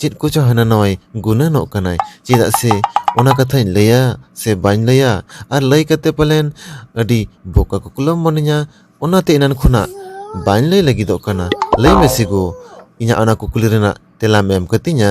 ᱪᱮᱫ ᱠᱚᱪᱚ ᱦᱟᱱᱟ ᱱᱟᱣᱟᱭ ᱜᱩᱱᱟᱹᱱᱚᱜ ᱠᱟᱱᱟᱭ ᱪᱮᱫᱟᱜ ᱥᱮ ᱚᱱᱟ ᱠᱟᱛᱷᱟᱧ ᱞᱟᱹᱭᱟ ᱥᱮ ᱵᱟᱹᱧ ᱞᱟᱹᱭᱟ ᱟᱨ ᱞᱟᱹᱭ ᱠᱟᱛᱮ ᱯᱟᱞᱮᱱ ᱟᱹᱰᱤ ᱵᱳᱠᱟ ᱠᱚᱠᱞᱚᱢ ᱢᱚᱱᱮᱧᱟ ᱚᱱᱟᱛᱮ ᱮᱱᱟᱱ ᱠᱷᱚᱱᱟᱜ ᱵᱟᱹᱧ ᱞᱟᱹᱭ ᱞᱟᱹᱜᱤᱫᱚᱜ ᱠᱟᱱᱟ ᱞᱟᱹᱭ ᱢᱮᱥᱮ ᱜᱳ ᱤᱧᱟᱹᱜ ᱚᱱᱟ ᱠᱩᱠᱞᱤ ᱨᱮᱱᱟᱜ ᱛᱮᱞᱟᱢ ᱮᱢ ᱠᱟᱹᱛᱤᱧᱟ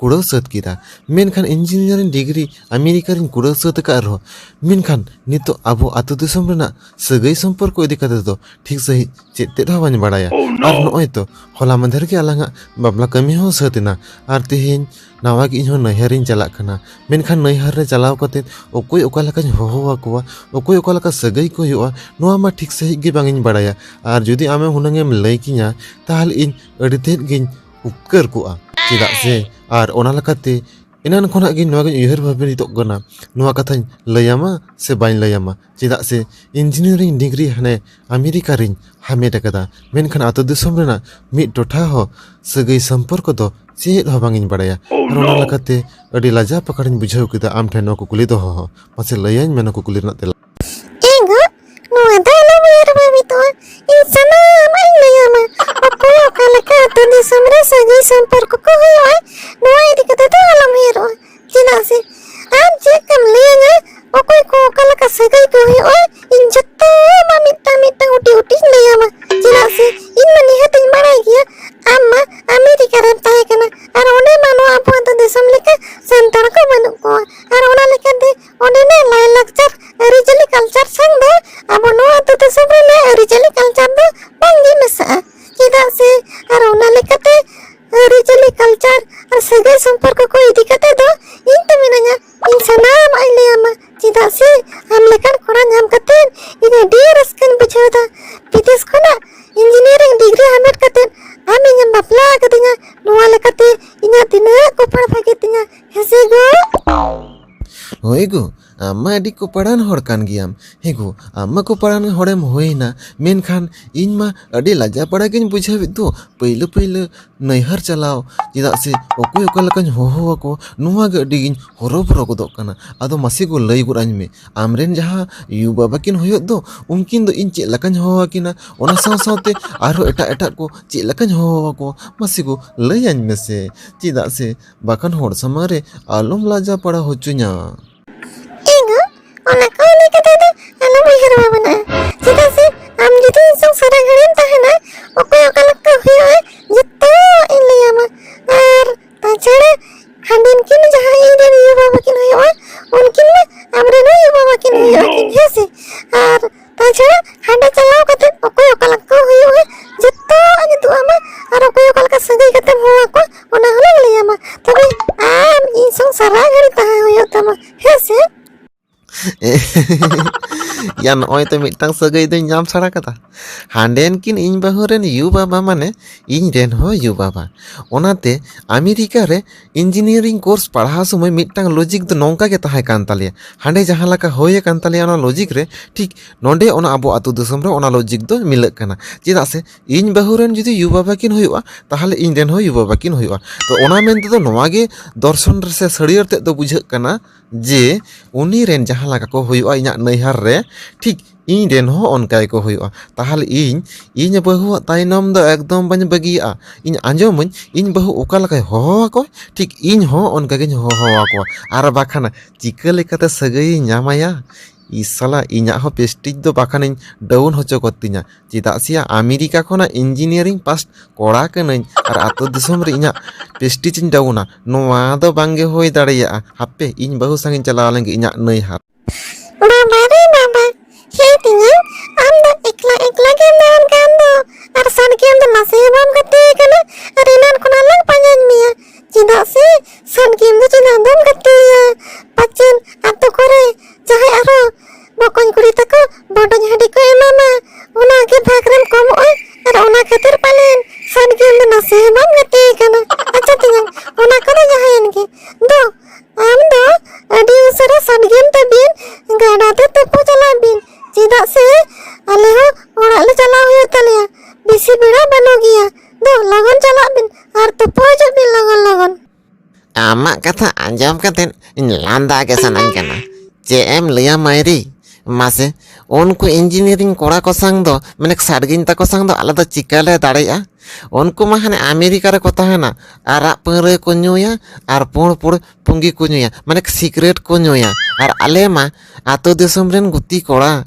ᱠᱩᱲᱟᱹᱣ ᱥᱟᱹᱛ ᱠᱮᱫᱟ ᱢᱮᱱᱠᱷᱟᱱ ᱤᱧᱡᱤᱱᱤᱭᱟᱨᱤᱝ ᱰᱤᱜᱽᱨᱤ ᱟᱢᱮᱨᱤᱠᱟ ᱨᱤᱧ ᱠᱩᱲᱟᱹᱣ ᱥᱟᱹᱛ ᱟᱠᱟᱫ ᱨᱮᱦᱚᱸ ᱢᱮᱱᱠᱷᱟᱱ ᱱᱤᱛᱚᱜ ᱟᱵᱚ ᱟᱹᱛᱩ ᱫᱤᱥᱚᱢ ᱨᱮᱱᱟᱜ ᱥᱟᱹᱜᱟᱹᱭ ᱥᱚᱢᱯᱚᱨᱠᱚ ᱤᱫᱤ ᱠᱟᱛᱮ ᱫᱚ ᱴᱷᱤᱠ ᱥᱟᱺᱦᱤᱡ ᱪᱮᱫ ᱛᱮᱫ ᱦᱚᱸ ᱵᱟᱹᱧ ᱵᱟᱲᱟᱭᱟ ᱟᱨ ᱱᱚᱜᱼᱚᱭ ᱛᱚ ᱦᱚᱞᱟ ᱢᱟᱫᱷᱮᱨ ᱜᱮ ᱟᱞᱟᱝᱟᱜ ᱵᱟᱯᱞᱟ ᱠᱟᱹᱢᱤ ᱦᱚᱸ ᱥᱟᱹᱛ ᱮᱱᱟ ᱟᱨ ᱛᱮᱦᱮᱧ ᱱᱟᱣᱟ ᱜᱮ ᱤᱧᱦᱚᱸ ᱱᱟᱹᱭᱦᱟᱹᱨᱤᱧ ᱪᱟᱞᱟᱜ ᱠᱟᱱᱟ ᱢᱮᱱᱠᱷᱟᱱ ᱱᱟᱹᱭᱦᱟᱹᱨ ᱨᱮ ᱪᱟᱞᱟᱣ ᱠᱟᱛᱮ ᱚᱠᱚᱭ ᱚᱠᱟ ᱞᱮᱠᱟᱧ ᱦᱚᱦᱚ ᱟᱠᱚᱣᱟ ᱚᱠᱚᱭ ᱚᱠᱟ ᱞᱮᱠᱟ ᱥᱟᱹᱜᱟᱹᱭ ᱠᱚ ᱦᱩᱭᱩᱜᱼᱟ ᱱᱚᱣᱟ ᱢᱟ ᱴᱷᱤᱠ ᱥᱟᱺᱦᱤᱡ ᱜᱮ ᱵᱟᱝ ᱤᱧ ᱵᱟᱲᱟᱭᱟ ᱟᱨ ᱡᱩᱫᱤ ᱟᱢᱮᱢ ᱦᱩᱱᱟᱹᱝ ᱮᱢ ᱞᱟᱹᱭ ᱠᱤᱧᱟ ᱛᱟᱦᱚᱞᱮ ᱤᱧ ᱟᱹᱰᱤ ᱛᱮᱫ ᱜᱤᱧ ᱩᱯᱠᱟᱹᱨ ᱠᱚᱜᱼᱟ ᱪᱮᱫᱟᱜ ᱥᱮ ᱟᱨ ᱚᱱᱟ ᱞᱮᱠᱟᱛᱮ ᱮᱱᱟᱱ ᱠᱷᱚᱱᱟᱜ ᱜᱮ ᱱᱚᱣᱟᱜᱤᱧ ᱩᱭᱦᱟᱹᱨ ᱵᱷᱟᱵᱤᱛᱚᱜ ᱠᱟᱱᱟ ᱱᱚᱣᱟ ᱠᱟᱛᱷᱟᱧ ᱞᱟᱹᱭᱟᱢᱟ ᱥᱮ ᱵᱟᱹᱧ ᱞᱟᱹᱭᱟᱢᱟ ᱪᱮᱫᱟᱜ ᱥᱮ ᱤᱧᱡᱤᱱᱤᱭᱟᱨᱤᱝ ᱰᱤᱜᱽᱨᱤ ᱦᱟᱱᱮ ᱟᱢᱮᱨᱤᱠᱟ ᱨᱤᱧ ᱦᱟᱢᱮᱴ ᱟᱠᱟᱫᱟ ᱢᱮᱱᱠᱷᱟᱱ ᱟᱛᱳ ᱫᱤᱥᱚᱢ ᱨᱮᱱᱟᱜ ᱢᱤᱫ ᱴᱚᱴᱷᱟ ᱦᱚᱸ ᱥᱟᱹᱜᱟᱹᱭ ᱥᱚᱢᱯᱚᱨᱠᱚ ᱫᱚ ᱪᱮᱫ ᱦᱚᱸ ᱵᱟᱝᱤᱧ ᱵᱟᱲᱟᱭᱟ ᱟᱨ ᱚᱱᱟ ᱞᱮᱠᱟᱛᱮ ᱟᱹᱰᱤ ᱞᱟᱡᱟᱣ ᱯᱟᱠᱟᱲᱤᱧ ᱵᱩᱡᱷᱟᱹᱣ ᱠᱮᱫᱟ ᱟᱢ ᱴᱷᱮᱱ ᱱᱚᱣᱟ ᱠᱩᱠᱞᱤ ᱫᱚᱦᱚ ᱦᱚᱸ ᱢᱟᱥᱮ ᱞᱟᱹᱭᱟᱹᱧ ᱢᱮ ᱱᱚᱣᱟ ᱠᱩᱠᱞᱤ ᱨᱮᱱᱟᱜ ᱛᱮᱞᱟ ᱮᱸᱜ ᱱᱚᱣᱟ ᱫᱚ ᱟᱞᱚᱢ ᱩᱭᱦᱟᱹᱨ ᱵᱷᱟᱵᱤᱛᱚᱜᱼᱟ ᱤᱧ ᱥᱟᱱᱟᱢᱟᱜ ᱤᱧ ᱞᱟᱹᱭᱟᱢᱟ ᱚᱠᱚᱭ ᱚᱠᱟ ᱞᱮᱠᱟ ᱟᱛᱳ ᱫᱤᱥᱚᱢ ᱨᱮ ᱥᱟᱹᱜᱟᱹᱭ ᱥᱚᱢᱯᱚᱨᱠᱚ ᱠᱚ ᱦᱩᱭᱩᱜᱼᱟ ᱱᱚᱣᱟ ᱤᱫᱤ ᱠᱟᱛᱮ ᱫᱚ ᱟᱞᱚᱢ ᱩᱭᱦᱟᱹᱨᱚᱜᱼᱟ ᱪᱮᱫᱟᱜ ᱥᱮ ᱟᱢ ᱪᱮᱫ ᱠᱟᱢ ᱞᱟᱹᱭᱟᱹᱧᱟ ᱚᱠᱚᱭ ᱠᱚ ᱚᱠᱟ ᱞᱮᱠᱟ ᱥᱟᱹᱜᱟᱹᱭ ᱠᱚ ᱦᱩᱭᱩᱜᱼᱟ ᱤᱧ ᱡᱚᱛᱚ ᱟᱢᱟᱜ ᱢᱤᱫᱴᱟᱝ ᱢᱤᱫᱴᱟᱝ ᱩᱴᱤ ᱩᱴᱤᱧ ᱞᱟᱹᱭᱟᱢᱟ ᱪᱮᱫᱟᱜ ᱥᱮ ᱤᱧ ᱢᱟ ᱱᱤᱦᱟᱹᱛᱤᱧ ᱵᱟᱲᱟᱭ ᱜᱮᱭᱟ ᱟᱢ ᱢᱟ ᱟᱢᱮᱨᱤᱠᱟ ᱨᱮᱢ ᱛᱟᱦᱮᱸ ᱠᱟᱱᱟ ᱟᱨ ᱚᱸᱰᱮ ᱢᱟ ᱱᱚᱣᱟ ᱟᱵᱚ ᱟᱛᱳ ᱫᱤᱥᱚᱢ ᱞᱮᱠᱟ ᱥᱟᱱᱛᱟᱲ ᱠᱚ ᱵᱟᱹᱱᱩᱜ ᱠᱚᱣᱟ ᱟᱨ ᱚᱱᱟ ᱞᱮᱠᱟᱛᱮ ᱚᱸᱰᱮᱱᱟᱜ ᱞᱟᱭᱞᱟᱠᱪᱟᱨ ᱟᱹᱨᱤᱪᱟᱹᱞᱤ ᱠᱟᱞᱪᱟᱨ ᱥᱟᱶ ᱫᱚ ᱟᱵᱚ ᱱᱚᱣᱟ ᱟᱹᱛᱩ ᱫᱤᱥᱚᱢ ᱨᱮᱱᱟᱜ ᱟᱹᱨᱤᱪᱟᱹᱞᱤ ᱠᱟᱞᱪᱟᱨ ᱫᱚ ᱵᱟᱝᱜᱮ ᱢᱮᱥᱟᱜᱼᱟ ᱪᱮᱫᱟᱜ ᱥᱮ ᱟᱨ ᱚᱱᱟ ᱞᱮᱠᱟᱛᱮ ᱟᱹᱨᱤᱪᱟᱹᱞᱤ ᱠᱟᱞᱪᱟᱨ ᱟᱨ ᱥᱟᱹᱜᱟᱹᱭ ᱥᱚᱢᱯᱚᱨᱠᱚ ᱠᱚ ᱤᱫᱤ ᱠᱟᱛᱮ ᱫᱚ ᱤᱧ ᱛᱮ ᱢᱤᱱᱟᱹᱧᱟ ᱤᱧ ᱥᱟᱱᱟᱢᱟᱜ ᱤᱧ ᱞᱟᱹᱭᱟᱢᱟ ᱪᱮᱫᱟᱜ ᱥᱮ ᱟᱢ ᱞᱮᱠᱟᱱ ᱠᱚᱲᱟ ᱧᱟᱢ ᱠᱟᱛᱮ ᱤᱧ ᱟᱹᱰᱤ ᱨᱟᱹᱥᱠᱟᱹᱧ ᱵᱩᱡᱷᱟᱹᱣᱫᱟ ᱵᱤᱫᱮᱥ ᱠᱷᱚᱱᱟᱜ ᱤᱧᱡᱤᱱᱤᱭᱟᱨᱤᱝ ᱰᱤᱜᱽᱨᱤ ᱦᱟᱢᱮᱴ ᱠᱟᱛᱮ ᱟᱢ ᱤᱧᱮᱢ ᱵᱟᱯᱞᱟ ᱟᱠᱟᱫᱤᱧᱟ ᱱᱚᱣᱟ ᱞᱮᱠᱟᱛᱮ ᱤᱧᱟᱹᱜ ᱛᱤᱱᱟᱹᱜ ᱠᱚᱯᱟᱲ ᱵᱷᱟᱜᱮ ᱛᱤᱧᱟ ᱦᱮᱸᱥᱮ ᱜᱚ ᱦᱳᱭ ᱜᱳ ᱟᱢ ᱢᱟ ᱟᱹᱰᱤ ᱠᱚᱯᱟᱲᱟᱱ ᱦᱚᱲ ᱠᱟᱱ ᱜᱮᱭᱟᱢ ᱦᱮᱸ ᱜᱳ ᱟᱢ ᱢᱟ ᱠᱚᱯᱟᱲᱟᱱ ᱦᱚᱲᱮᱢ ᱦᱩᱭ ᱮᱱᱟ ᱢᱮᱱᱠᱷᱟᱱ ᱤᱧ ᱢᱟ ᱟᱹᱰᱤ ᱞᱟᱡᱟᱣ ᱯᱟᱲᱟ ᱜᱤᱧ ᱵᱩᱡᱷᱟᱹᱣ ᱮᱜ ᱫᱚ ᱯᱟᱹᱭᱞᱟᱹ ᱯᱟᱹᱭᱞᱟᱹ ᱱᱟᱹᱭᱦᱟᱹᱨ ᱪᱟᱞᱟᱣ ᱪᱮᱫᱟᱜ ᱥᱮ ᱚᱠᱚᱭ ᱚᱠᱟ ᱞᱮᱠᱟᱧ ᱦᱚᱦᱚ ᱟᱠᱚ ᱱᱚᱣᱟ ᱜᱮ ᱟᱹᱰᱤ ᱜᱤᱧ ᱦᱚᱨᱚ ᱵᱚᱨᱚ ᱜᱚᱫᱚᱜ ᱠᱟᱱᱟ ᱟᱫᱚ ᱢᱟᱥᱮ ᱜᱳ ᱞᱟᱹᱭ ᱜᱚᱜ ᱟᱹᱧ ᱢᱮ ᱟᱢ ᱨᱮᱱ ᱡᱟᱦᱟᱸ ᱭᱩ ᱵᱟᱵᱟ ᱠᱤᱱ ᱦᱩᱭᱩᱜ ᱫᱚ ᱩᱱᱠᱤᱱ ᱫᱚ ᱤᱧ ᱪᱮᱫ ᱞᱮᱠᱟᱧ ᱦᱚᱦᱚ ᱟᱹᱠᱤᱱᱟ ᱚᱱᱟ ᱥᱟᱶ ᱥᱟᱶᱛᱮ ᱟᱨᱦᱚᱸ ᱮᱴᱟᱜ ᱮᱴᱟᱜ ᱠᱚ ᱪᱮᱫ ᱞᱮᱠᱟᱧ ᱦᱚᱦᱚ ᱟᱠᱚᱣᱟ ᱢᱟᱥᱮ ᱜᱳ ᱞᱟᱹᱭ ᱟᱹᱧ ᱢᱮᱥᱮ ᱪᱮᱫᱟᱜ ᱥᱮ ᱵᱟᱠᱷᱟᱱ ᱦᱚᱲ ᱥᱟᱢᱟᱝ ᱨᱮ ᱟᱞᱚᱢ ᱞᱟᱡᱟ ᱯᱟᱲᱟ ᱦᱚᱪᱚᱧᱟ ᱮᱜᱳ ᱚᱱᱟ ᱠᱚ ᱞᱟᱹᱭ ᱠᱟᱛᱮ ᱫᱚ ᱟᱞᱚᱢ ᱩᱭᱦᱟᱹᱨ ᱵᱷᱟᱵᱽᱱᱟᱜᱼᱟ ᱪᱮᱫᱟᱜ ᱥᱮ ᱟᱢ ᱡᱩᱫᱤ ᱤᱧ ᱥᱟᱶ ᱥᱟᱨᱟ ᱜᱷᱟᱹᱲᱤᱢ ᱛᱟᱦᱮᱱᱟ ᱚᱠᱚᱭ ᱚᱠᱟ ᱞᱮᱠᱟ ᱦᱩᱭᱩᱜᱼᱟ ᱡᱚᱛᱚ ᱤᱧ ᱞᱟᱹᱭᱟᱢᱟ ᱟᱨ ᱛᱟᱪᱷᱟᱲᱟ ᱦᱟᱸᱰᱮᱱ ᱠᱤᱱ ᱡᱟᱦᱟᱸ ᱤᱧ ᱨᱮᱱ ᱭᱩ ᱵᱟᱵᱟ ᱠᱤᱱ ᱦᱩᱭᱩᱜᱼᱟ ᱩᱱᱠᱤᱱ ᱢᱟ ᱟᱢᱨᱮᱱ ᱦᱚᱸ ᱭᱩ ᱵᱟᱵᱟ ᱠᱤᱱ ᱦᱩᱭᱩᱜᱼᱟ ᱠᱤᱱ ᱦᱮᱸ ᱥᱮ ᱟᱨ ᱛᱟᱪᱷᱟᱲᱟ ᱦᱟᱸᱰᱮ ᱪᱟᱞᱟᱣ ᱠᱟᱛᱮ ᱚᱠᱚᱭ ᱚᱠᱟ ᱞᱮᱠᱟ ᱠᱚ ᱦᱩᱭᱩᱜᱼᱟ ᱡᱚᱛᱚᱣᱟᱜ ᱧᱩᱛᱩᱢ ᱟᱢᱟ ᱟᱨ ᱚᱠᱚᱭ ᱚᱠᱟ ᱞᱮᱠᱟ ᱥᱟᱹᱜᱟᱹᱭ ᱠᱟᱛᱮ ᱦᱚᱦᱚ ᱟᱠᱚ ᱚᱱᱟ ᱦᱚᱸᱞᱮ ᱞᱟᱹᱭ ᱟᱢᱟ ᱛᱚᱵᱮ ᱟᱢ ᱤᱧ ᱥᱟᱶ ᱥᱟᱨᱟ ᱜᱷᱟᱹᱲᱤ ᱛᱟᱦᱮᱸ ᱦᱩᱭᱩᱜ ᱛᱟᱢᱟ ᱦᱮᱸ ᱥᱮ ᱭᱟ ᱱᱚᱜᱼᱚᱭ ᱛᱚ ᱢᱤᱫᱴᱟᱝ ᱥᱟᱹᱜᱟᱹᱭ ᱫᱚᱧ ᱧᱟᱢ ᱥᱟᱲᱟ ᱠᱟᱫᱟ ᱦᱟᱸᱰᱮᱱ ᱠᱤᱱ ᱤᱧ ᱵᱟᱹᱦᱩ ᱨᱮᱱ ᱭᱩ ᱵᱟᱵᱟ ᱢᱟᱱᱮ ᱤᱧ ᱨᱮᱱ ᱦᱚᱸ ᱭᱩ ᱵᱟᱵᱟ ᱚᱱᱟᱛᱮ ᱟᱢᱮᱨᱤᱠᱟ ᱨᱮ ᱤᱧᱡᱤᱱᱤᱭᱟᱨᱤᱝ ᱠᱳᱨᱥ ᱯᱟᱲᱦᱟᱣ ᱥᱚᱢᱚᱭ ᱢᱤᱫᱴᱟᱝ ᱞᱚᱡᱤᱠ ᱫᱚ ᱱᱚᱝᱠᱟ ᱜᱮ ᱛᱟᱦᱮᱸ ᱠᱟᱱ ᱛᱟᱞᱮᱭᱟ ᱦᱟᱸᱰᱮ ᱡᱟᱦᱟᱸ ᱞᱮᱠᱟ ᱦᱩᱭ ᱟᱠᱟᱱ ᱛᱟᱞᱮᱭᱟ ᱚᱱᱟ ᱞᱚᱡᱤᱠ ᱨᱮ ᱴᱷᱤᱠ ᱱᱚᱰᱮ ᱚᱱᱟ ᱟᱵᱚ ᱟᱹᱛᱩ ᱫᱤᱥᱚᱢ ᱨᱮ ᱚᱱᱟ ᱞᱚᱡᱤᱠ ᱫᱚ ᱢᱤᱞᱟᱹᱜ ᱠᱟᱱᱟ ᱪᱮᱫᱟᱜ ᱥᱮ ᱤᱧ ᱵᱟᱹᱦᱩ ᱨᱮᱱ ᱡᱩᱫᱤ ᱭᱩ ᱵᱟᱵᱟ ᱠᱤᱱ ᱦᱩᱭᱩᱜᱼᱟ ᱛᱟᱦᱚᱞᱮ ᱤᱧ ᱨᱮᱱ ᱦᱚᱸ ᱭᱩ ᱵᱟᱵᱟ ᱠᱤᱱ ᱦᱩᱭᱩᱜᱼᱟ ᱛᱚ ᱚᱱᱟ ᱢᱮᱱ ᱛᱮᱫᱚ ᱱᱚᱣᱟᱜᱮ ᱫᱚᱨᱥᱚᱱ ᱨᱮᱥᱮ ᱥᱟᱹᱲᱭᱟᱹᱲ ᱛᱮᱫ ᱫᱚ ᱵᱩᱡᱷᱟᱹᱜ ᱠᱟᱱᱟ ᱡᱮ ᱩᱱᱤ ᱨᱮᱱ ᱡᱟᱦᱟᱸ ᱞᱮᱠᱟ ᱠᱚ ᱦᱩᱭᱩᱜᱼᱟ ᱤᱧᱟᱹᱜ ᱱᱟᱹᱭᱦᱟᱹᱨ ᱨᱮ ᱴᱷᱤᱠ ᱤᱧ ᱨᱮᱱ ᱦᱚᱸ ᱚᱱᱠᱟ ᱜᱮᱠᱚ ᱦᱩᱭᱩᱜᱼᱟ ᱛᱟᱦᱚᱞᱮ ᱤᱧ ᱤᱧ ᱵᱟᱹᱦᱩᱣᱟᱜ ᱛᱟᱭᱱᱚᱢ ᱫᱚ ᱮᱠᱫᱚᱢ ᱵᱟᱹᱧ ᱵᱟᱹᱜᱤᱭᱟᱜᱼᱟ ᱤᱧ ᱟᱸᱡᱚᱢ ᱟᱹᱧ ᱤᱧ ᱵᱟᱹᱦᱩ ᱚᱠᱟ ᱞᱮᱠᱟᱭ ᱦᱚᱦᱚ ᱟᱠᱚᱣᱟ ᱴᱷᱤᱠ ᱤᱧ ᱦᱚᱸ ᱚᱱᱠᱟ ᱜᱤᱧ ᱦᱚᱦᱚ ᱟᱠᱚᱣᱟ ᱟᱨ ᱵᱟᱠᱷᱟᱱ ᱪᱤᱠᱟᱹ ᱞᱮᱠᱟᱛᱮ ᱥᱟᱹᱜᱟᱹᱭ ᱤᱧ ᱧᱟᱢ ᱟᱭᱟ ᱤᱥ ᱥᱟᱞᱟ ᱤᱧᱟᱜ ᱦᱚᱸ ᱯᱮᱥᱴᱤᱡᱽ ᱫᱚ ᱵᱟᱠᱷᱟᱱᱤᱧ ᱰᱟᱣᱩᱱ ᱦᱚᱪᱚ ᱠᱚᱜ ᱛᱤᱧᱟ ᱪᱮᱫᱟᱜ ᱥᱮ ᱭᱟ ᱟᱢᱮᱨᱤᱠᱟ ᱠᱷᱚᱱᱟᱜ ᱤᱱᱡᱤᱱᱤᱭᱟᱨᱤᱝ ᱯᱟᱥ ᱠᱚᱲᱟ ᱠᱟᱹᱱᱟᱹᱧ ᱟᱨ ᱟᱹᱛᱩ ᱫᱤᱥᱚᱢ ᱨᱮ ᱤᱧᱟᱜ ᱯᱮᱥᱴᱤᱡᱽ ᱤᱧ ᱰᱟᱣᱩᱱᱟ ᱱᱚᱣᱟ ᱫᱚ ᱵᱟᱝ ᱜᱮ ᱦᱩᱭ ᱫᱟᱲᱮᱭᱟᱜᱼᱟ ᱦᱟᱯᱮ ᱤᱧ ᱵᱟᱹᱦᱩ ᱥᱟᱝᱤᱧ ᱪᱟᱞᱟᱣ ᱞᱮᱱ ᱜᱮ ᱤᱧᱟᱜ ᱱᱟᱹᱭᱦᱟᱨ᱾ ᱵᱟᱵᱟ ᱨᱮ ᱵᱟᱵᱟ ᱦᱮ ᱛᱤᱧᱟᱝ ᱟᱢ ᱫᱚ ᱮᱠᱞᱟ ᱮᱠᱞᱟ ᱜᱮᱢ ᱫᱟᱲᱟᱱ ᱠᱟᱱ ᱫᱚ ᱟᱨ ᱥᱟᱰᱜᱮᱢ ᱫᱚ ᱱᱟᱥᱮ ᱦᱚᱸ ᱵᱟᱢ ᱜᱟᱛᱮ ᱟᱠᱟᱱᱟ ᱟᱨ ᱮᱱᱟᱱ ᱠᱷᱚᱱᱟᱜ ᱞᱟᱝ ᱯᱟᱸᱡᱟᱧ ᱢᱮᱭᱟ ᱪᱮᱫᱟᱜ ᱥᱮ ᱥᱟᱱ ᱜᱮᱢ ᱫᱚ ᱪᱮᱫᱟᱜ ᱵᱚᱱ ᱜᱟᱛᱮᱭᱟ ᱯᱟᱪᱮᱱ ᱟᱛᱳ ᱠᱚᱨᱮ ᱡᱟᱦᱟᱸᱭ ᱟᱨᱚ ᱵᱚᱠᱚᱧ ᱠᱩᱲᱤ ᱛᱟᱠᱚ ᱵᱚᱰᱚᱧ ᱦᱟᱺᱰᱤ ᱠᱚ ᱮᱢᱟᱢᱟ ᱚᱱᱟ ᱜᱮ ᱵᱷᱟᱜᱽ ᱨᱮᱢ ᱠᱚᱢᱚᱜᱼᱟ ᱟᱨ ᱚᱱᱟ ᱠᱷᱟᱹᱛᱤᱨ ᱯᱟᱞᱮᱱ ᱥᱟᱱ ᱜᱮᱢ ᱫᱚ ᱱᱟᱥᱮ ᱦᱚᱸ ᱵᱟᱢ ᱜᱟᱛᱮ ᱠᱟᱱᱟ ᱟᱪᱪᱷᱟ ᱛᱮᱧᱟᱝ ᱚᱱᱟ ᱠᱚᱫᱚ ᱡᱟᱦᱟᱸᱭᱮᱱ ᱜᱮ ᱫᱚ ᱟᱢ ᱫᱚ ᱟᱹᱰᱤ ᱩᱥᱟᱹᱨᱟ ᱥᱟᱱ ᱜᱮᱢ ᱛᱟᱹᱵᱤᱱ ᱜᱟᱰᱟ ᱛᱮ ᱛᱩᱯᱩ ᱪᱟᱞᱟᱜ ᱵᱤᱱ ᱪᱮᱫᱟᱜ ᱥᱮ ᱟᱞᱮ ᱦᱚᱸ ᱚᱲᱟᱜ ᱞᱮ ᱪᱟᱞᱟᱣ ᱦᱩᱭᱩᱜ ᱛᱟᱞᱮᱭᱟ ᱵᱮᱥᱤ ᱵᱮᱲᱟ ᱵᱟᱹᱱᱩᱜ ᱜᱮᱭᱟ ᱫᱚ ᱞᱚᱜᱚᱱ ᱪᱟᱞᱟᱜ ᱵᱤᱱ ᱟᱨ ᱛᱩᱯᱩ ᱦᱤᱡᱩᱜ ᱵᱤᱱ ᱞᱚᱜᱚᱱ ᱞᱚᱜᱚᱱ ᱟᱢᱟᱜ ᱠᱟᱛᱷᱟ ᱟᱸᱡᱚᱢ ᱠᱟᱛᱮᱫ ᱤᱧ ᱞᱟᱸᱫᱟ ᱜᱮ ᱥᱟᱱᱟᱧ ᱠᱟᱱᱟ ᱪᱮᱫ ᱮᱢ ᱞᱟᱹᱭᱟ ᱢᱟᱭᱨᱤ ᱢᱟᱥᱮ ᱩᱱᱠᱩ ᱤᱧᱡᱤᱱᱤᱭᱟᱨᱤᱝ ᱠᱚᱲᱟ ᱠᱚ ᱥᱟᱝ ᱫᱚ ᱢᱟᱱᱮ ᱥᱟᱰᱜᱤᱧ ᱛᱟᱠᱚ ᱥᱟᱝ ᱫᱚ ᱟᱞᱮ ᱫᱚ ᱪᱤᱠᱟᱹ ᱞᱮ ᱫᱟᱲᱮᱭᱟᱜᱼᱟ ᱩᱱᱠᱩ ᱢᱟ ᱦᱟᱱᱮ ᱟᱢᱮᱨᱤᱠᱟ ᱨᱮᱠᱚ ᱛᱟᱦᱮᱱᱟ ᱟᱨᱟᱜ ᱯᱟᱹᱣᱨᱟᱹ ᱠᱚ ᱧᱩᱭᱟ ᱟᱨ ᱯᱩᱬ ᱯᱩᱬ ᱯᱩᱸᱜᱤ ᱠᱚ ᱧᱩᱭᱟ ᱢᱟᱱᱮ ᱥᱤᱠᱨᱮᱴ ᱠᱚ ᱧᱩᱭᱟ ᱟᱨ ᱟᱞᱮ ᱢᱟ ᱟᱛᱳ ᱫᱤᱥᱚᱢ ᱨᱮᱱ ᱜᱩᱛᱤ ᱠᱚᱲᱟ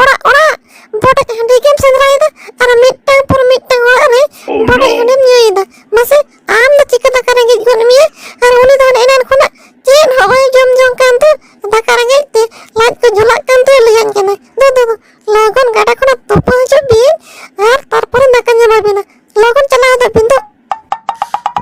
ᱚᱲᱟᱜ ᱚᱲᱟᱜ ᱵᱚᱰᱮᱡ ᱦᱟᱺᱰᱤ ᱜᱮᱢ ᱥᱮᱸᱫᱽᱨᱟᱭᱮᱫᱟ ᱟᱨ ᱢᱤᱫᱴᱟᱝ ᱯᱚᱨ ᱢᱤᱫᱴᱟᱝ ᱚᱲᱟᱜ ᱨᱮ oh, ᱵᱚᱰᱮᱡ ᱦᱟᱺᱰᱤᱢ ᱧᱩᱭᱮᱫᱟ ᱢᱟᱥᱮ ᱟᱢ ᱫᱚ ᱪᱤᱠᱟᱹ ᱫᱟᱠᱟ ᱨᱮᱸᱜᱮᱡ ᱜᱚᱫ ᱢᱮᱭᱟ ᱟᱨ ᱩᱱᱤ ᱫᱚ ᱦᱟᱱᱮ ᱮᱱᱟᱱ ᱠᱷᱚᱱᱟᱜ ᱪᱮᱫ ᱦᱚᱸ ᱵᱟᱭ ᱡᱚᱢ ᱡᱚᱝ ᱠᱟᱱ ᱛᱮ ᱫᱟᱠᱟ ᱨᱮᱸᱜᱮᱡ ᱛᱮ ᱞᱟᱡ ᱠᱚ ᱡᱷᱚᱞᱟᱜ ᱠᱟᱱ ᱛᱮ ᱞᱟᱹᱭᱟᱹᱧ ᱠᱟᱱᱟ ᱫᱩ ᱫᱩ ᱫᱩ ᱞᱚᱜᱚᱱ ᱜᱟᱰᱟ ᱠᱷᱚᱱᱟᱜ ᱛᱩᱯᱩ ᱦᱤᱡᱩᱜ ᱵᱤᱱ ᱟᱨ ᱛᱟᱨᱯᱚᱨᱮ ᱫᱟᱠᱟ ᱧᱟᱢᱟ ᱵᱤᱱᱟ ᱞᱚᱜᱚᱱ ᱪᱟᱞᱟᱣ ᱦᱤᱡᱩᱜ ᱵᱤᱱ ᱫᱩ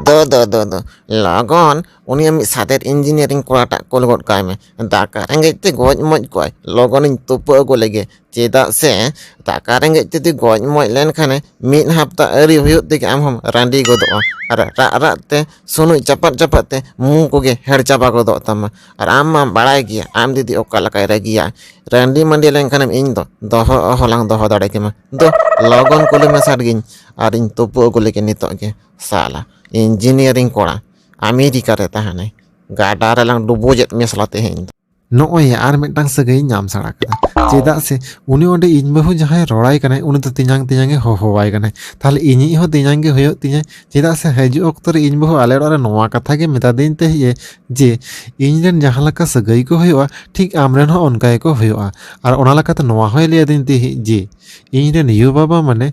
ᱫᱚ ᱫᱚ ᱫᱚ ᱫᱚ ᱞᱚᱜᱚᱱ ᱩᱱᱤᱭᱟᱜ ᱢᱤᱫ ᱥᱟᱛᱮᱨ ᱤᱧᱡᱤᱱᱤᱭᱟᱨᱤᱝ ᱠᱚᱲᱟᱴᱟᱜ ᱠᱳᱞ ᱜᱚᱫ ᱠᱟᱭ ᱢᱮ ᱫᱟᱠᱟ ᱨᱮᱸᱜᱮᱡ ᱛᱮ ᱜᱚᱡ ᱢᱚᱡ ᱠᱚᱜᱼᱟᱭ ᱞᱚᱜᱚᱱᱤᱧ ᱛᱩᱯᱩ ᱟᱹᱜᱩ ᱞᱮᱜᱮ ᱪᱮᱫᱟᱜ ᱥᱮ ᱫᱟᱠᱟ ᱨᱮᱸᱜᱮᱡ ᱛᱮ ᱡᱩᱫᱤ ᱜᱚᱡ ᱢᱚᱡ ᱞᱮᱱᱠᱷᱟᱱᱮ ᱢᱤᱫ ᱦᱟᱯᱛᱟ ᱟᱹᱣᱨᱤ ᱦᱩᱭᱩᱜ ᱛᱮᱜᱮ ᱟᱢ ᱦᱚᱢ ᱨᱟᱺᱰᱤ ᱜᱚᱫᱚᱜᱼᱟ ᱟᱨ ᱨᱟᱜ ᱨᱟᱜ ᱛᱮ ᱥᱩᱱᱩᱡ ᱪᱟᱯᱟᱫ ᱪᱟᱯᱟᱫ ᱛᱮ ᱢᱩ ᱠᱚᱜᱮ ᱦᱮᱲ ᱪᱟᱵᱟ ᱜᱚᱫᱚᱜ ᱛᱟᱢᱟ ᱟᱨ ᱟᱢ ᱢᱟᱢ ᱵᱟᱲᱟᱭ ᱜᱮᱭᱟ ᱟᱢ ᱫᱤᱫᱤ ᱚᱠᱟ ᱞᱮᱠᱟᱭ ᱨᱟᱹᱜᱤᱭᱟ ᱨᱟᱺᱰᱤ ᱢᱟᱺᱰᱤ ᱞᱮᱱᱠᱷᱟᱱᱮᱢ ᱤᱧ ᱫᱚ ᱫᱚᱦᱚ ᱦᱚᱞᱟᱝ ᱫᱚᱦᱚ ᱫᱟᱲᱮ ᱠᱮᱢᱟ ᱫᱩ ᱞᱚᱜᱚᱱ ᱠᱩᱞᱤ ᱢᱮᱥᱟ ᱜᱤᱧ ᱟᱨᱤᱧ ᱛᱩᱯᱩ ᱟᱹᱜᱩ ᱞᱮᱜᱮ ᱱᱤᱛᱚᱜ ᱜᱮ ᱥᱟᱞᱟ ᱤᱧᱡᱤᱱᱤᱭᱟᱨᱤᱝ ᱠᱚᱲᱟ ᱟᱢᱮᱨᱤᱠᱟ ᱨᱮ ᱛᱟᱦᱮᱱᱟᱭ ᱜᱟᱰᱟ ᱨᱮᱞᱟᱝ ᱰᱩᱵᱩᱡᱮᱫ ᱢᱮᱭᱟ ᱥᱟᱞᱟ ᱛᱮᱦᱮᱧ ᱫᱚ ᱱᱚᱜᱼᱚᱭ ᱟᱨ ᱢᱤᱫᱴᱟᱝ ᱥᱟᱹᱜᱟᱹᱭ ᱧᱟᱢ ᱥᱟᱲᱟ ᱠᱮᱫᱟ ᱪᱮᱫᱟᱜ ᱥᱮ ᱩᱱᱤ ᱚᱸᱰᱮ ᱤᱧ ᱵᱟᱹᱦᱩ ᱡᱟᱦᱟᱸᱭ ᱨᱚᱲᱟᱭ ᱠᱟᱱᱟᱭ ᱩᱱᱤ ᱫᱚ ᱛᱮᱧᱟᱝ ᱛᱮᱧᱟᱝ ᱮ ᱦᱚᱦᱚᱣᱟᱭ ᱠᱟᱱᱟᱭ ᱛᱟᱦᱞᱮ ᱤᱧᱤᱡ ᱦᱚᱸ ᱛᱮᱧᱟᱝ ᱜᱮ ᱦᱩᱭᱩᱜ ᱛᱤᱧᱟᱹ ᱪᱮᱫᱟᱜ ᱥᱮ ᱦᱤᱡᱩᱜ ᱚᱠᱛᱚ ᱨᱮ ᱤᱧ ᱵᱟᱹᱦᱩ ᱟᱞᱮ ᱚᱲᱟᱜ ᱨᱮ ᱱᱚᱣᱟ ᱠᱟᱛᱷᱟ ᱜᱮ ᱢᱮᱛᱟᱫᱤᱧ ᱛᱟᱦᱮᱸᱫ ᱮ ᱡᱮ ᱤᱧ ᱨᱮᱱ ᱡᱟᱦᱟᱸ ᱞᱮᱠᱟ ᱥᱟᱹᱜᱟᱹᱭ ᱠᱚ ᱦᱩᱭᱩᱜᱼᱟ ᱴᱷᱤᱠ ᱟᱢ ᱨᱮᱱ ᱦᱚᱸ ᱚᱱᱠᱟ ᱜᱮᱠᱚ ᱦᱩᱭᱩᱜᱼᱟ ᱟᱨ ᱚᱱᱟ ᱞᱮᱠᱟᱛᱮ ᱱᱚᱣᱟ ᱦᱚᱸᱭ ᱞᱟᱹᱭ ᱟᱹᱫᱤᱧ ᱛᱟᱦᱮᱸᱫ ᱡᱮ ᱤᱧ ᱨᱮᱱ ᱭᱩ ᱵᱟᱵᱟ ᱢᱟᱱᱮ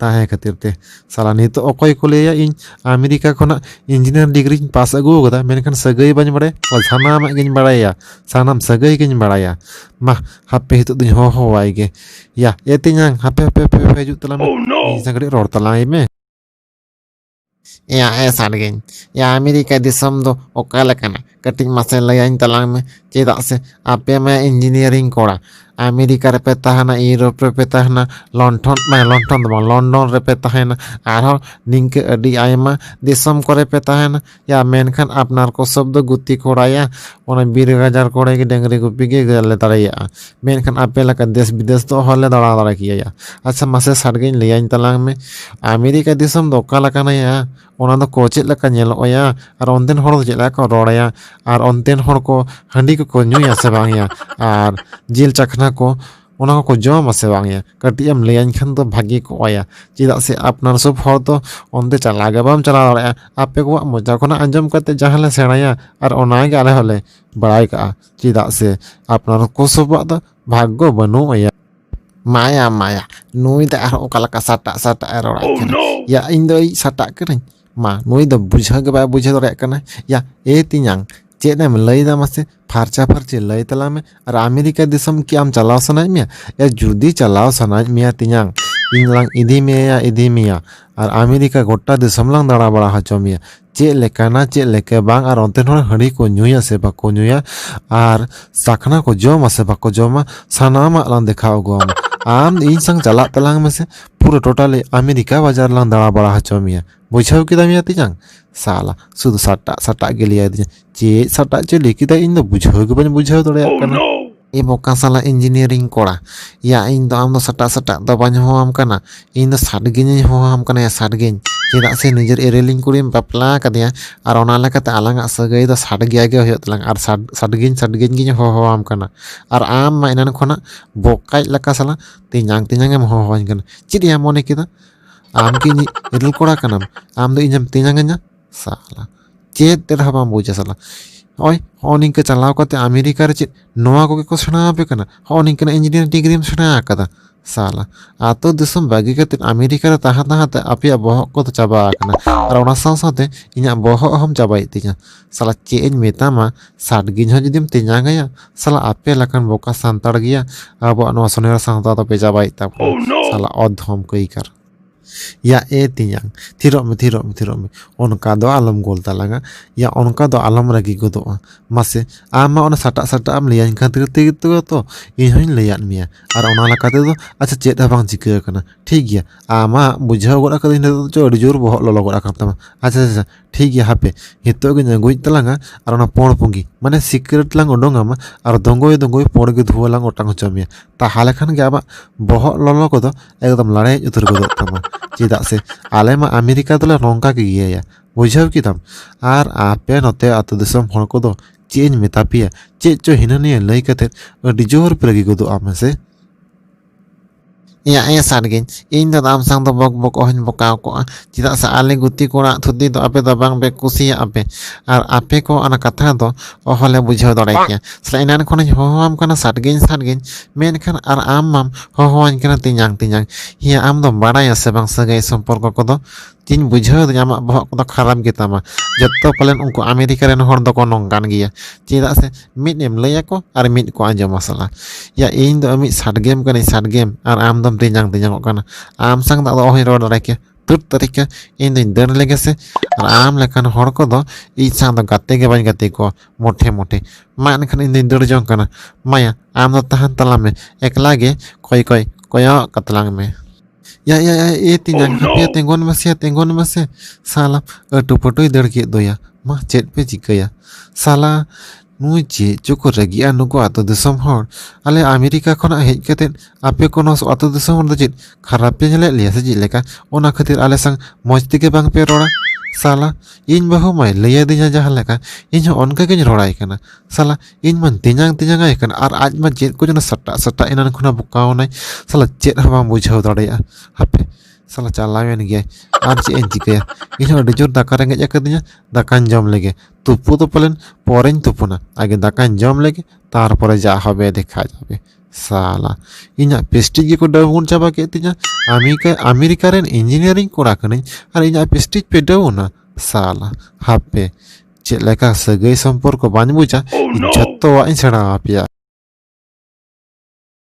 ᱛᱟᱦᱮᱸ ᱠᱷᱟᱹᱛᱤᱨ ᱛᱮ ᱥᱟᱞᱟ ᱱᱤᱛᱚᱜ ᱚᱠᱚᱭ ᱠᱚ ᱞᱟᱹᱭᱟ ᱤᱧ ᱟᱢᱮᱨᱤᱠᱟ ᱠᱷᱚᱱᱟᱜ ᱤᱧᱡᱤᱱᱤᱭᱟᱨ ᱰᱤᱜᱽᱨᱤᱧ ᱯᱟᱥ ᱟᱹᱜᱩ ᱟᱠᱟᱫᱟ ᱢᱮᱱᱠᱷᱟᱱ ᱥᱟᱹᱜᱟᱹᱭ ᱵᱟᱹᱧ ᱵᱟᱲᱟᱭᱟ ᱥᱟᱱᱟᱢᱟᱜ ᱜᱤᱧ ᱵᱟᱲᱟᱭᱟ ᱥᱟᱱᱟᱢ ᱥᱟᱹᱜᱟᱹᱭ ᱜᱤᱧ ᱵᱟᱲᱟᱭᱟ ᱢᱟ ᱦᱟᱯᱮ ᱱᱤᱛᱚᱜ ᱫᱚᱧ ᱦᱚᱦᱚᱣᱟᱭ ᱜᱮ ᱭᱟ ᱮ ᱛᱮᱧᱟᱝ ᱦᱟᱯᱮ ᱦᱟᱯᱮ ᱦᱟᱯᱮ ᱦᱤᱡᱩᱜ ᱛᱟᱞᱟᱝ ᱢᱮ ᱤᱧ ᱥᱟᱶ ᱠᱟᱹᱴᱤᱡ ᱨᱚᱲ ᱛᱟᱞᱟᱝ ᱟᱭ ᱢᱮ ᱭᱟ ᱮ ᱥᱟᱰᱜᱮᱧ ᱭᱟ ᱟᱢᱮᱨᱤᱠᱟ ᱫᱤᱥᱚᱢ ᱫᱚ ᱚᱠᱟ ᱞᱮᱠᱟᱱᱟ ᱠᱟᱹᱴᱤᱡ ᱢᱟᱥᱮ ᱞᱟᱹᱭᱟᱹᱧ ᱛᱟᱞᱟᱝ ᱢᱮ ᱪᱮᱫᱟᱜ ᱥᱮ ᱟᱯᱮ ᱢᱟ ᱤᱧᱡᱤᱱᱤᱭᱟᱨᱤᱝ ᱠᱚᱲᱟ ᱟᱢᱮᱨᱤᱠᱟ ᱨᱮᱯᱮ ᱛᱟᱦᱮᱱᱟ ᱤᱭᱩᱨᱳᱯ ᱨᱮᱯᱮ ᱛᱟᱦᱮᱱᱟ ᱞᱚᱱᱴᱷᱚᱱ ᱵᱟᱝ ᱞᱚᱱᱴᱷᱚᱱ ᱫᱚ ᱵᱟᱝ ᱞᱚᱱᱰᱚᱱ ᱨᱮᱯᱮ ᱛᱟᱦᱮᱱᱟ ᱟᱨᱦᱚᱸ ᱱᱤᱝᱠᱟᱹ ᱟᱹᱰᱤ ᱟᱭᱢᱟ ᱫᱤᱥᱚᱢ ᱠᱚᱨᱮ ᱯᱮ ᱛᱟᱦᱮᱱᱟ ᱭᱟ ᱢᱮᱱᱠᱷᱟᱱ ᱟᱯᱱᱟᱨ ᱠᱚ ᱥᱚᱵ ᱫᱚ ᱜᱩᱛᱤ ᱠᱚᱲᱟᱭᱟ ᱚᱱᱟ ᱵᱤᱨ ᱜᱟᱡᱟᱲ ᱠᱚᱨᱮ ᱜᱮ ᱰᱟᱹᱝᱨᱤ ᱜᱩᱯᱤ ᱜᱮ ᱞᱮ ᱫᱟᱲᱮᱭᱟᱜᱼᱟ ᱢᱮᱱᱠᱷᱟᱱ ᱟᱯᱮ ᱞᱮᱠᱟ ᱫᱮᱥ ᱵᱤᱫᱮᱥ ᱫᱚ ᱚᱦᱚᱞᱮ ᱫᱟᱬᱟ ᱫᱟᱲᱮ ᱠᱮᱭᱟ ᱟᱪᱪᱷᱟ ᱢᱟᱥᱮ ᱥᱟᱰᱜᱮᱧ ᱞᱟᱹᱭᱟᱹᱧ ᱛᱟᱞᱟᱝ ᱢᱮ ᱟᱢᱮᱨᱤᱠᱟ ᱫᱤᱥᱚᱢ ᱫᱚ ᱚᱠᱟ ᱞᱮᱠᱟᱱᱟᱭᱟ ᱚᱱᱟ ᱫᱚ ᱠᱚ ᱪᱮᱫ ᱞᱮᱠᱟ ᱧᱮᱞᱚᱜᱼᱟ ᱟᱨ ᱚᱱᱛᱮᱱ ᱦᱚᱲ ᱫᱚ ᱪᱮᱫ ᱞᱮᱠᱟ ᱠᱚ ᱨᱚᱲᱟᱭᱟ ᱟᱨ ᱚᱱᱛᱮᱱ ᱦᱚᱲ ᱠᱚ ᱦᱟᱺᱰᱤ ᱠᱚᱠᱚ ᱧᱩᱭᱟ ᱥᱮ ᱵᱟᱝᱭᱟ ᱟᱨ ᱡᱤᱞ ᱪᱟᱠᱷᱱᱟ ᱠᱚ ᱚᱱᱟ ᱠᱚᱠᱚ ᱡᱚᱢᱟ ᱥᱮ ᱵᱟᱝᱭᱟ ᱠᱟᱹᱴᱤᱡ ᱮᱢ ᱞᱟᱹᱭᱟᱹᱧ ᱠᱷᱟᱱ ᱫᱚ ᱵᱷᱟᱹᱜᱤ ᱠᱚᱜᱼᱟᱭᱟ ᱪᱮᱫᱟᱜ ᱥᱮ ᱟᱯᱱᱟᱨ ᱥᱚᱵ ᱦᱚᱲ ᱫᱚ ᱚᱱᱛᱮ ᱪᱟᱞᱟᱣ ᱜᱮ ᱵᱟᱢ ᱪᱟᱞᱟᱣ ᱫᱟᱲᱮᱭᱟᱜᱼᱟ ᱟᱯᱮ ᱠᱚᱣᱟᱜ ᱢᱚᱪᱟ ᱠᱷᱚᱱᱟᱜ ᱟᱸᱡᱚᱢ ᱠᱟᱛᱮ ᱡᱟᱦᱟᱸ ᱞᱮ ᱥᱮᱬᱟᱭᱟ ᱟᱨ ᱚᱱᱟᱜᱮ ᱟᱞᱮ ᱦᱚᱸᱞᱮ ᱵᱟᱲᱟᱭ ᱠᱟᱜᱼᱟ ᱪᱮᱫᱟᱜ ᱥᱮ ᱟᱯᱱᱟᱨ ᱦᱚᱸ ᱠᱚᱥᱚᱵᱟᱜ ᱫᱚ ᱵᱷᱟᱜᱽᱜᱚ ᱵᱟᱹᱱᱩᱜ ᱟᱭᱟ ᱢᱟᱭᱟ ᱢᱟᱭᱟ ᱱᱩᱭ ᱫᱚ ᱟᱨᱦᱚᱸ ᱚᱠᱟ ᱞᱮᱠᱟ ᱥᱟᱴᱟᱜ ᱥᱟᱴᱟᱜ ᱮ ᱨᱚᱲᱟᱭ ᱠᱟᱱᱟ ᱭᱟ ᱤᱧ ᱫᱚ ᱤᱡ ᱥᱟᱴᱟᱜ ᱠᱟᱹᱱᱟᱹᱧ ᱢᱟ ᱱᱩᱭ ᱫᱚ ᱵᱩᱡᱷᱟᱹᱣ ᱜᱮ ᱵᱟᱭ ᱵᱩᱡᱷᱟᱹᱣ ᱫᱟᱲᱮᱭᱟᱜ ᱠᱟᱱᱟ ᱭᱟ ᱮ ᱛᱤᱧᱟᱝ ᱪᱮᱫ ᱮᱢ ᱞᱟᱹᱭᱫᱟ ᱢᱟᱥᱮ ᱯᱷᱟᱨᱪᱟ ᱯᱷᱟᱨᱪᱤ ᱞᱟᱹᱭ ᱛᱟᱞᱟᱝ ᱢᱮ ᱟᱨ ᱟᱢᱮᱨᱤᱠᱟ ᱫᱤᱥᱚᱢ ᱠᱤ ᱟᱢ ᱪᱟᱞᱟᱣ ᱥᱟᱱᱟᱭᱮᱫ ᱢᱮᱭᱟ ᱭᱟ ᱡᱩᱫᱤ ᱪᱟᱞᱟᱣ ᱥᱟᱱᱟᱭᱮᱫ ᱢᱮᱭᱟ ᱛᱤᱧᱟᱝ ᱤᱧ ᱞᱟᱝ ᱤᱫᱤ ᱢᱮᱭᱟ ᱤᱫᱤ ᱢᱮᱭᱟ ᱟᱨ ᱟᱢᱮᱨᱤᱠᱟ ᱜᱚᱴᱟ ᱫᱤᱥᱚᱢ ᱞᱟᱝ ᱫᱟᱬᱟ ᱵᱟᱲᱟ ᱦᱚᱪᱚ ᱢᱮᱭᱟ ᱪᱮᱫ ᱞᱮᱠᱟᱱᱟ ᱪᱮᱫ ᱞᱮᱠᱟ ᱵᱟᱝ ᱟᱨ ᱚᱱᱛᱮᱱ ᱦᱚᱲ ᱦᱟᱺᱰᱤ ᱠᱚ ᱧᱩᱭᱟ ᱥᱮ ᱵᱟᱠᱚ ᱧᱩᱭᱟ ᱟᱨ ᱥᱟᱠᱷᱱᱟ ᱠᱚ ᱡᱚᱢᱟ ᱥᱮ ᱵᱟᱠᱚ ᱡᱚᱢᱟ ᱥᱟᱱᱟᱢᱟᱜ ᱞᱟᱝ ᱫᱮᱠᱷᱟᱣ ᱟᱹᱜᱩᱣᱟᱢᱟ ᱟᱢ ᱤᱧ ᱥᱟᱝ ᱪᱟᱞᱟᱜ ᱛᱟᱞᱟᱝ ᱢᱮᱥᱮ ᱯᱩᱨᱟᱹ ᱴᱳᱴᱟᱞᱤ ᱟᱢᱮᱨᱤᱠᱟ ᱵᱟᱡᱟᱨ ᱞᱟᱝ ᱫᱟᱬᱟ ᱵᱟᱲᱟ ᱦᱚᱪᱚ ᱢᱮᱭᱟ ᱵᱩᱡᱷᱟᱹᱣ ᱠᱮᱫᱟᱢ ᱭᱟ ᱛᱤᱧᱟᱝ ᱥᱟᱞᱟ ᱥᱩᱫᱷᱩ ᱥᱟᱴᱟᱜ ᱥᱟᱴᱟᱜ ᱜᱮ ᱞᱟᱹᱭ ᱟᱹᱫᱤᱧᱟ ᱪᱮᱫ ᱥᱟᱴᱟᱜ ᱪᱚᱭ ᱞᱟᱹᱭ ᱠᱮᱫᱟ ᱤᱧ ᱫᱚ ᱵᱩᱡᱷᱟᱹᱣ ᱜᱮ ᱵᱟᱹᱧ ᱵᱩᱡᱷᱟᱹᱣ ᱫᱟᱲᱮᱭᱟᱜ ᱠᱟᱱᱟ ᱮ ᱵᱚᱠᱟ ᱥᱟᱞᱟ ᱤᱧᱡᱤᱱᱤᱭᱟᱨᱤᱝ ᱠᱚᱲᱟ ᱭᱟ ᱤᱧ ᱫᱚ ᱟᱢ ᱫᱚ ᱥᱟᱴᱟᱜ ᱥᱟᱴᱟᱜ ᱫᱚ ᱵᱟᱹᱧ ᱦᱚᱦᱚᱣᱟᱢ ᱠᱟᱱᱟ ᱤᱧ ᱫᱚ ᱥᱟᱰᱜᱤᱧᱤᱧ ᱦᱚᱦᱚᱣᱟᱢ ᱠᱟᱱᱟ ᱭᱟ ᱥᱟᱰᱜᱤᱧ ᱪᱮᱫᱟᱜ ᱥᱮ ᱱᱤᱡᱮᱨ ᱮᱨᱮᱞᱤᱧ ᱠᱩᱲᱤᱢ ᱵᱟᱯᱞᱟ ᱟᱠᱟᱫᱮᱭᱟ ᱟᱨ ᱚᱱᱟ ᱞᱮᱠᱟᱛᱮ ᱟᱞᱟᱝᱟᱜ ᱥᱟᱹᱜᱟᱹᱭ ᱫᱚ ᱥᱟᱰᱜᱮᱭᱟ ᱜᱮ ᱦᱩᱭᱩᱜ ᱛᱟᱞᱟᱝ ᱟᱨ ᱥᱟᱰᱜᱤᱧ ᱥᱟᱰᱜᱤᱧ ᱜᱤᱧ ᱦᱚᱦᱚᱣᱟᱢ ᱠᱟᱱᱟ ᱟᱨ ᱟᱢ ᱢᱟ ᱮᱱᱟᱱ ᱠᱷᱚᱱᱟᱜ ᱵᱚᱠᱟᱭᱤᱡ ᱞᱮᱠᱟ ᱥᱟᱞᱟ ᱛᱮᱧᱟᱝ ᱛᱮᱧᱟᱝ ᱮᱢ ᱦᱚᱦᱚᱣᱟᱹᱧ ᱠᱟᱱᱟ ᱪᱮᱫ ᱭᱟ ᱢᱚᱱᱮ ᱠᱮᱫᱟ ᱟᱢ ᱠᱤ ᱤᱧᱤᱡ ᱮᱨᱮᱞ ᱠᱚᱲᱟ ᱠᱟᱱᱟᱢ ᱟᱢ ᱫᱚ ᱤᱧᱮᱢ ᱛᱮᱧᱟᱝ ᱟᱹᱧᱟ ᱥᱟᱞᱟ ᱪᱮᱫ ᱛᱮ ᱨᱮᱦᱚᱸ ᱵᱟᱢ ᱵᱩᱡᱟ ᱥᱟᱞᱟ ᱱᱚᱜᱼᱚᱭ ᱦᱚᱸᱜᱼᱚ ᱱᱤᱝᱠᱟᱹ ᱪᱟᱞᱟᱣ ᱠᱟᱛᱮ ᱟᱢᱮᱨᱤᱠᱟ ᱨᱮ ᱪᱮᱫ ᱱᱚᱣᱟ ᱠᱚᱜᱮ ᱠᱚ ᱥᱮᱬᱟ ᱟᱯᱮ ᱠᱟᱱᱟ ᱦᱚᱸᱜᱼᱚ ᱱᱤᱝᱠᱟᱹᱱᱟᱜ ᱤᱧᱡᱤᱱᱤᱭᱟᱨ ᱰᱤᱜᱽᱨᱤᱢ ᱥᱮᱬᱟ ᱟᱠᱟᱫᱟ ᱥᱟᱞᱟ ᱟᱛᱳ ᱫᱤᱥᱚᱢ ᱵᱟᱹᱜᱤ ᱠᱟᱛᱮ ᱟᱢᱮᱨᱤᱠᱟ ᱨᱮ ᱛᱟᱦᱮᱸ ᱛᱟᱦᱮᱸ ᱛᱮ ᱟᱯᱮᱭᱟᱜ ᱵᱚᱦᱚᱜ ᱠᱚᱫᱚ ᱪᱟᱵᱟ ᱟᱠᱟᱱᱟ ᱟᱨ ᱚᱱᱟ ᱥᱟᱶ ᱥᱟᱶᱛᱮ ᱤᱧᱟᱹᱜ ᱵᱚᱦᱚᱜ ᱦᱚᱸᱢ ᱪᱟᱵᱟᱭᱮᱫ ᱛᱤᱧᱟ ᱥᱟᱞᱟ ᱪᱮᱫ ᱤᱧ ᱢᱮᱛᱟᱢᱟ ᱥᱟᱰᱜᱤᱧ ᱦᱚᱸ ᱡᱩᱫᱤᱢ ᱛᱮᱧᱟᱝᱟᱭᱟ ᱥᱟᱞᱟ ᱟᱯᱮ ᱞᱮᱠᱟᱱ ᱵᱚᱠᱟ ᱥᱟᱱᱛᱟᱲ ᱜᱮᱭᱟ ᱟᱵᱚᱣᱟᱜ ᱱᱚᱣᱟ ᱥᱚᱱᱮᱨ ᱥᱟᱶᱛᱟ ᱫᱚᱯᱮ ᱪᱟᱵᱟᱭᱮᱫ ᱛᱟᱵᱚᱱᱟ ᱥᱟᱞᱟ ᱚᱫᱷᱚᱢ ᱠᱟᱹᱭᱠᱟᱨ ᱭᱟ ᱮ ᱛᱮᱧᱟᱝ ᱛᱷᱤᱨᱚᱜ ᱢᱮ ᱛᱷᱤᱨᱚᱜ ᱢᱮ ᱛᱷᱤᱨᱚᱜ ᱢᱮ ᱚᱱᱠᱟ ᱫᱚ ᱟᱞᱚᱢ ᱜᱳᱞ ᱛᱟᱞᱟᱝᱟ ᱭᱟ ᱚᱱᱠᱟ ᱫᱚ ᱟᱞᱚᱢ ᱨᱟᱹᱜᱤ ᱜᱚᱫᱚᱜᱼᱟ ᱢᱟᱥᱮ ᱟᱢ ᱢᱟ ᱚᱱᱟ ᱥᱟᱴᱟᱜ ᱥᱟᱴᱟᱜ ᱮᱢ ᱞᱟᱹᱭᱟᱹᱧ ᱠᱷᱟᱹᱛᱤᱨ ᱛᱮᱜᱮ ᱛᱚ ᱤᱧ ᱦᱚᱸᱧ ᱞᱟᱹᱭᱟᱫ ᱢᱮᱭᱟ ᱟᱨ ᱚᱱᱟ ᱞᱮᱠᱟ ᱛᱮᱫᱚ ᱟᱪᱪᱷᱟ ᱪᱮᱫ ᱦᱚᱸ ᱵᱟᱝ ᱪᱤᱠᱟᱹ ᱟᱠᱟᱱᱟ ᱴᱷᱤᱠ ᱜᱮᱭᱟ ᱟᱢᱟᱜ ᱵᱩᱡᱷᱟᱹᱣ ᱜᱚᱫ ᱠᱟᱹᱫᱟᱹᱧ ᱱᱤᱛᱚᱜ ᱫᱚ ᱟᱹᱰᱤ ᱡᱳᱨ ᱵᱚᱦᱚᱜ ᱞᱚᱞᱚ ᱜᱚᱫ ᱟᱠᱟᱱ ᱛᱟᱢᱟ ᱟᱪᱪᱷᱟ ᱟᱪᱪᱷᱟ ᱴᱷᱤᱠ ᱜᱮᱭᱟ ᱦᱟᱯᱮ ᱱᱤᱛᱚᱜ ᱜᱤᱧ ᱟᱹᱜᱩᱭᱮᱫ ᱛᱟᱞᱟᱝᱟ ᱟᱨ ᱚᱱᱟ ᱯᱚᱬ ᱯᱩᱸᱜᱤ ᱢᱟᱱᱮ ᱥᱤᱠᱨᱮᱴ ᱞᱟᱝ ᱩᱰᱩᱝ ᱟᱢᱟ ᱟᱨ ᱫᱚᱸᱜᱚᱭ ᱫᱚᱸᱜᱚᱭ ᱯᱚᱬ ᱜᱮ ᱫᱷᱩᱣᱟᱹ ᱞᱟᱝ ᱚᱴᱟᱝ ᱦᱚᱪᱚ ᱢᱮᱭᱟ ᱛᱟᱦᱚᱞᱮ ᱠᱷᱟᱱ ᱜᱮ ᱟᱢᱟᱜ ᱵᱚᱦᱚᱜ ᱞᱚᱞᱚ ᱠᱚᱫᱚ ᱮᱠᱫᱚᱢ ᱞᱟᱲᱮᱡ ᱩᱛᱟᱹᱨ ᱜᱚᱫᱚᱜ ᱛᱟᱢᱟ ᱪᱮᱫᱟᱜ ᱥᱮ ᱟᱞᱮ ᱢᱟ ᱟᱢᱮᱨᱤᱠᱟ ᱫᱚᱞᱮ ᱱᱚᱝᱠᱟ ᱜᱮ ᱤᱭᱟᱹᱭᱟ ᱵᱩᱡᱷᱟᱹᱣ ᱠᱮᱫᱟᱢ ᱟᱨ ᱟᱯᱮ ᱱᱚᱛᱮ ᱟᱹᱛᱩ ᱫᱤᱥᱚᱢ ᱦᱚᱲ ᱠᱚᱫᱚ ᱪᱮᱫ ᱤᱧ ᱢᱮᱛᱟ ᱯᱮᱭᱟ ᱪᱮᱫ ᱪᱚ ᱦᱤᱱᱟᱹ ᱱᱤᱭᱟᱹ ᱞᱟᱹᱭ ᱠᱟᱛᱮᱫ ᱟᱹᱰᱤ ᱡᱳᱨ ᱯᱮ ᱨᱟᱹᱜᱤ ᱜᱚᱫᱚᱜᱼᱟ ᱢᱮᱥᱮ ᱮᱭᱟ ᱮ ᱥᱟᱨᱜᱤᱧ ᱤᱧ ᱫᱚ ᱟᱢ ᱥᱟᱝ ᱫᱚ ᱵᱚᱠ ᱵᱚᱠ ᱚᱦᱚᱧ ᱵᱚᱠᱟᱣ ᱠᱚᱜᱼᱟ ᱪᱮᱫᱟᱜ ᱥᱮ ᱟᱞᱮ ᱜᱩᱛᱤ ᱠᱚᱲᱟ ᱛᱷᱩᱫᱤ ᱫᱚ ᱟᱯᱮ ᱫᱚ ᱵᱟᱝ ᱯᱮ ᱠᱩᱥᱤᱭᱟᱜ ᱟᱯᱮ ᱟᱨ ᱟᱯᱮ ᱠᱚ ᱚᱱᱟ ᱠᱟᱛᱷᱟ ᱫᱚ ᱚᱦᱚᱞᱮ ᱵᱩᱡᱷᱟᱹᱣ ᱫᱟᱲᱮ ᱠᱮᱭᱟ ᱥᱮ ᱮᱱᱟᱱ ᱠᱷᱚᱱᱤᱧ ᱦᱚᱦᱚᱣᱟᱢ ᱠᱟᱱᱟ ᱥᱟᱨᱜᱤᱧ ᱥᱟᱨᱜᱤᱧ ᱢᱮᱱᱠᱷᱟᱱ ᱟᱨ ᱟᱢ ᱢᱟᱢ ᱦᱚᱦᱚᱣᱟᱹᱧ ᱠᱟᱱᱟ ᱛᱤᱧᱟᱝ ᱛᱤᱧᱟᱝ ᱦᱮᱸ ᱟᱢ ᱫᱚᱢ ᱵᱟᱲᱟᱭᱟ ᱥᱮ ᱵᱟᱝ ᱥᱟᱹᱜᱟᱹᱭ ᱥᱚᱢᱯᱚᱨᱠᱚ ᱠᱚᱫᱚ ᱛᱤᱧ ᱵᱩᱡᱷᱟᱹᱣ ᱫᱟᱹᱧ ᱟᱢᱟᱜ ᱵᱚᱦᱚᱜ ᱠᱚᱫᱚ ᱠᱷᱟᱨᱟᱯ ᱜᱮᱛᱟᱢᱟ ᱡᱚᱛᱚ ᱯᱟᱞᱮᱱ ᱩᱱᱠᱩ ᱟᱢᱮᱨᱤᱠᱟ ᱨᱮᱱ ᱦᱚᱲ ᱫᱚᱠᱚ ᱱᱚᱝᱠᱟᱱ ᱜᱮᱭᱟ ᱪᱮᱫᱟᱜ ᱥᱮ ᱢᱤᱫ ᱮᱢ ᱞᱟᱹᱭ ᱟᱠᱚ ᱟᱨ ᱢᱤᱫ ᱠᱚ ᱟᱸᱡᱚᱢᱟ ᱥᱟᱞᱟ ᱭᱟ ᱤᱧ ᱫᱚ ᱢᱤᱫ ᱥᱟᱰᱜᱮᱢ ᱠᱟᱹᱱᱟᱹᱧ ᱥᱟᱰᱜᱮᱢ ᱟᱨ ᱟᱢ ᱫᱚᱢ ᱛᱮᱧᱟᱝ ᱛᱮᱧᱟᱝᱚᱜ ᱠᱟᱱᱟ ᱟᱢ ᱥᱟᱝ ᱫᱚ ᱟᱫᱚ ᱚᱦᱚᱧ ᱨᱚᱲ ᱫᱟᱲᱮ ᱠᱮᱭᱟ ᱛᱩᱨ ᱛᱟᱹᱨᱤᱠᱟ ᱤᱧ ᱫᱚᱧ ᱫᱟᱹᱲ ᱞᱮᱜᱮ ᱥᱮ ᱟᱨ ᱟᱢ ᱞᱮᱠᱟᱱ ᱦᱚᱲ ᱠᱚᱫᱚ ᱤᱧ ᱥᱟᱝ ᱫᱚ ᱜᱟᱛᱮ ᱜᱮ ᱵᱟᱹᱧ ᱜᱟᱛᱮ ᱠᱚᱣᱟ ᱢᱚᱴᱷᱮ ᱢᱚᱴᱷᱮ ᱢᱟ ᱮᱱᱠᱷᱟᱱ ᱤᱧ ᱫᱚᱧ ᱫᱟᱹᱲ ᱡᱚᱝ ᱠᱟᱱᱟ ᱢᱟᱭᱟ ᱟᱢ ᱫᱚ ᱛᱟᱦᱮᱱ ᱛᱟᱞᱟᱝ ᱢᱮ ᱮᱠᱞᱟ ᱜᱮ ᱠᱚᱭ ᱠᱚᱭ ᱠᱚᱭᱚᱜ ᱠᱟᱛᱟᱞᱟᱝ ᱢᱮ ᱭᱟ ᱭᱟ ᱭᱟ ᱮ ᱛᱤᱧ ᱡᱟᱝ ᱦᱟᱯᱮ ᱭᱟ ᱛᱮᱸᱜᱚᱱ ᱢᱮᱥᱮ ᱭᱟ ᱛᱮᱸᱜᱚᱱ ᱢᱮᱥᱮ ᱥᱟᱞᱟ ᱟᱹᱴᱩ ᱯᱟᱹᱴᱩᱭ ᱫᱟᱹᱲ ᱠᱮᱫ ᱫᱚᱭᱟ ᱢᱟ ᱪᱮᱫ ᱯᱮ ᱪᱤᱠᱟᱹᱭᱟ ᱥᱟᱞᱟ ᱱᱩᱭ ᱪᱮᱫ ᱪᱚᱠᱚ ᱨᱟᱹᱜᱤᱜᱼᱟ ᱱᱩᱠᱩ ᱟᱛᱳ ᱫᱤᱥᱚᱢ ᱦᱚᱲ ᱟᱞᱮ ᱟᱢᱮᱨᱤᱠᱟ ᱠᱷᱚᱱᱟᱜ ᱦᱮᱡ ᱠᱟᱛᱮ ᱟᱯᱮ ᱠᱚ ᱱᱚᱣᱟ ᱟᱛᱳ ᱫᱤᱥᱚᱢ ᱦᱚᱲ ᱫᱚ ᱪᱮᱫ ᱠᱷᱟᱨᱟᱯ ᱯᱮ ᱧᱮᱞᱮᱫ ᱞᱮᱭᱟ ᱥᱮ ᱪᱮᱫ ᱞᱮᱠᱟ ᱚᱱᱟ ᱠᱷᱟᱹᱛᱤᱨ ᱟᱞᱮ ᱥᱟᱝ ᱢᱚᱡᱽ ᱛᱮᱜᱮ ᱵᱟᱝ ᱯᱮ ᱨᱚᱲᱟ ᱥᱟᱞᱟ ᱤᱧ ᱵᱟᱹᱦᱩ ᱢᱟᱭ ᱞᱟᱹᱭ ᱟᱹᱫᱤᱧᱟ ᱡᱟᱦᱟᱸ ᱞᱮᱠᱟ ᱤᱧ ᱦᱚᱸ ᱚᱱᱠᱟ ᱜᱤᱧ ᱨᱚᱲᱟᱭ ᱠᱟᱱᱟ ᱥᱟᱞᱟ ᱤᱧ ᱢᱟ ᱛᱮᱧᱟᱝ ᱛᱮᱧᱟᱝ ᱟᱭ ᱠᱟᱱᱟ ᱟᱨ ᱟᱡ ᱢᱟ ᱪᱮᱫ ᱠᱚᱪᱚ ᱥᱟᱴᱟᱜ ᱥᱟᱴᱟᱜ ᱮᱱᱟᱱ ᱠᱷᱚᱱᱟᱜ ᱵᱚᱠᱟᱣᱱᱟᱭ ᱥᱟᱞᱟ ᱪᱮᱫ ᱦᱚᱸ ᱵᱟᱝ ᱵᱩᱡᱷᱟᱹᱣ ᱫᱟᱲᱮᱭᱟᱜᱼᱟ ᱦᱟᱯᱮ ᱥᱟᱞᱟ ᱪᱟᱞᱟᱣᱮᱱ ᱜᱮᱭᱟᱭ ᱟᱨ ᱪᱮᱫ ᱤᱧ ᱪᱤᱠᱟᱹᱭᱟ ᱤᱧ ᱦᱚᱸ ᱟᱹᱰᱤ ᱡᱳᱨ ᱫᱟᱠᱟ ᱨᱮᱸᱜᱮᱡ ᱟᱠᱟᱫᱤᱧᱟ ᱫᱟᱠᱟᱧ ᱡᱚᱢ ᱞᱮᱜᱮ ᱛᱩᱯᱩ ᱫᱚ ᱯᱟᱞᱮᱱ ᱯᱚᱨᱮᱧ ᱛᱩᱯᱩᱱᱟ ᱟᱜᱮ ᱫᱟᱠᱟᱧ ᱡᱚᱢ ᱞᱮᱜᱮ ᱛᱟᱨᱯᱚᱨᱮ ᱡᱟ ᱦᱚᱵᱮ ᱫᱮᱠᱷᱟ ᱡᱟᱵᱮ ᱥᱟᱞᱟ ᱤᱧᱟᱹᱜ ᱯᱮᱥᱴᱤᱡᱽ ᱜᱮᱠᱚ ᱰᱟᱣᱩᱱ ᱪᱟᱵᱟ ᱠᱮᱫ ᱛᱤᱧᱟ ᱟᱢᱮᱨᱤᱠᱟ ᱟᱢᱮᱨᱤᱠᱟ ᱨᱮᱱ ᱤᱧᱡᱤᱱᱤᱭᱟᱨᱤᱝ ᱠᱚᱲᱟ ᱠᱟᱹᱱᱟᱹᱧ ᱟᱨ ᱤᱧᱟᱹᱜ ᱯᱮᱥᱴᱤᱡᱽ ᱯᱮ ᱰᱟᱣᱩᱱᱟ ᱥᱟᱞᱟ ᱦᱟᱯᱮ ᱪᱮᱫ ᱞᱮᱠᱟ ᱥᱟᱹᱜᱟᱹᱭ ᱥᱚᱢᱯᱚᱨᱠᱚ ᱵᱟᱹᱧ ᱵᱩᱡᱟ ᱡᱷᱚᱛᱚᱣᱟᱜ ᱤᱧ ᱥᱮᱬᱟ ᱟᱯᱮᱭᱟ